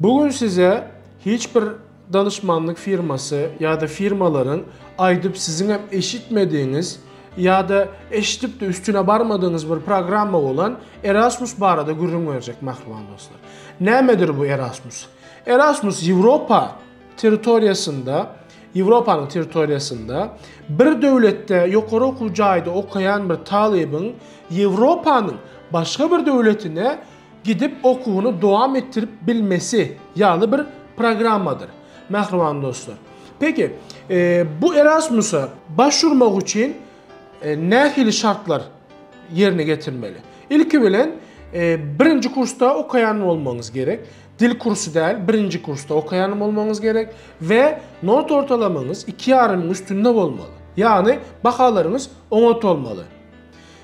Bu gün size hiç bir danyşmanlyk firmasy ýa-da firmalaryň aýdyp siziňem eşitmedigiňiz ýa-da eşidip-de üstüne barmadygyňyz bir programma bolan Erasmus barada gürrüň berjek mähriban dostlar. Nämedir bu Erasmus? Erasmus Ýewropa territoriýasynda, Ýewropanyň territoriýasynda bir döwletde ýokary okuw jaýda okaýan bir talybyň Ýewropanyň başga bir döwletine gidip okuwyny dowam etdirip bilmesi ýaly bir programmadyr mähriban dostlar. Peki, bu Erasmus-a baş urmak üçin nähili şartlar ýerine getirmeli? Ilki bilen birinji kursda okaýan bolmagyňyz gerek, dil kursy däl, birinji kursda okaýan bolmagyňyz gerek we not ortalamaňyz iki ýarymyň üstünde bolmaly. Ýagny bahalaryňyz oňat bolmaly.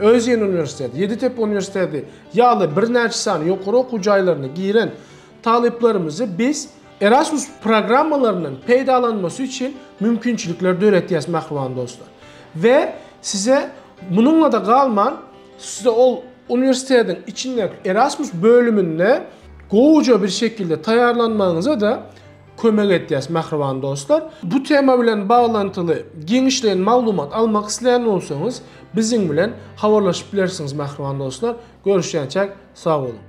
Özýen uniwersiteti, Ýeditepe uniwersiteti ýaly birnäçe sany ýokary okuw jaýlaryna giren talyplarymyzy biz Erasmus programmalaryndan peýdalanmasy üçin mümkinçilikler döretýäs, mähriban dostlar. We size munuňla-da galman, size ol uniwersitetiň içindäki Erasmus bölüminde gowuja bir şekilde taýýarlanmagyňyza-da Kömek etýäs mähriban dostlar. Bu tema bilen baglantyly giňişleýin maglumat almak isleýän bolsaňyz biziň bilen habarlaşyp bilersiňiz mähriban dostlar. Görüşýänçäk sag boluň.